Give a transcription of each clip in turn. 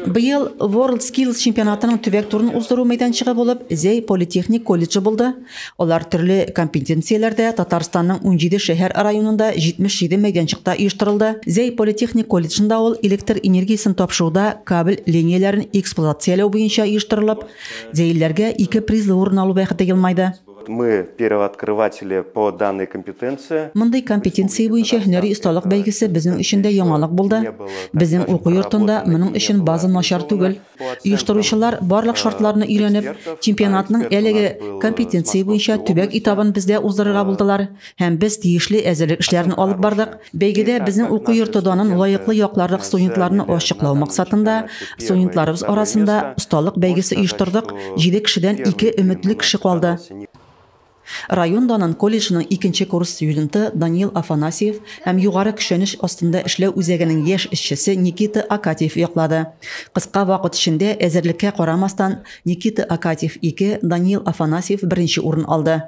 Быел WorldSkills чемпионатының төбәк турын уздыру мәйданчыгы булып Зәй политехник колледжы булды. Алар төрле компетенцияләрдә Татарстанның унҗиде шәһәр районында 77 мәйданчыкта оештырылды. Зәй политехник колледжында ул электр энергиясен тапшыруда кабель ленияләрен эксплуатацияләү буенча оештырылып, зәйлеләргә ике призлы урын алу бәхете елмайды. Мы первооткрыватели по данной компетенции. Мондый компетенция буенча һөнәри осталык бәйгесе безнең өчен дә яңалык булды. Безнең уку йортында моның өчен база начар түгел. Оештыручылар барлык шартларны өйрәнеп, чемпионатның әлеге компетенция буенча төбәк этабын бездә уздырырга булдылар һәм без тиешле әзерлек эшләрен алып бардык. Бәйгедә безнең уку йорты данын лаеклы якларлык студентларны ачыклау максатында студентларыбыз арасында осталык бәйгесе оештырдык. Җиде кешедән ике өметле кеше калды. Район данын колледжның икенче курс студенты Даниил Афанасьев һәм югары көчәнеш астында эшләү үзәгенең яшь эшчесе Никита Акатьев яклады. Кыска вакыт эчендә, әзерлеккә карамастан, Никита Акатьев, ике, Даниил Афанасьев беренче урын алды.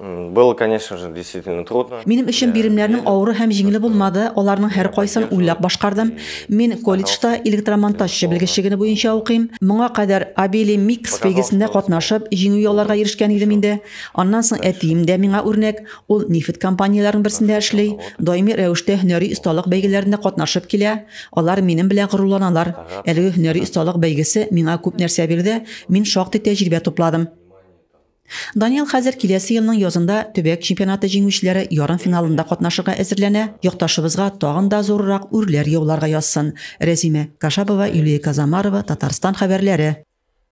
Было, конечно же, действительно трудно. Минем өчен биремнәрнең авыры һәм җиңеле булмады, аларның һәркайсын уйлап башкардым. Мин колледжда электромонтажчы белгечлегене буенча укыйм. Моңа кадәр Абели Микс бәйгесендә катнашып, җиңү яуларга ирешкән идем инде. Аннан соң әтием дә миңа үрнәк, ул нефть компанияләренең берсендә эшли, даими рәвештә һөнәри осталык бәйгеләренә катнашып килә. Алар минем белән горурланалар. Әлеге һөнәри осталык бәйгесе миңа күп нәрсә бирде, мин шактый тәҗрибә тупладым. Данил хәзер киләсе елның язында төбәк чемпионаты җиңүчеләре ярымфиналында катнашырга әзерләнә, якташыбызга тагын да зуррак үрләр яуларга язсын. Рәзимә Кашабова, Юлия Казамарова, Татарстан хәбәрләре.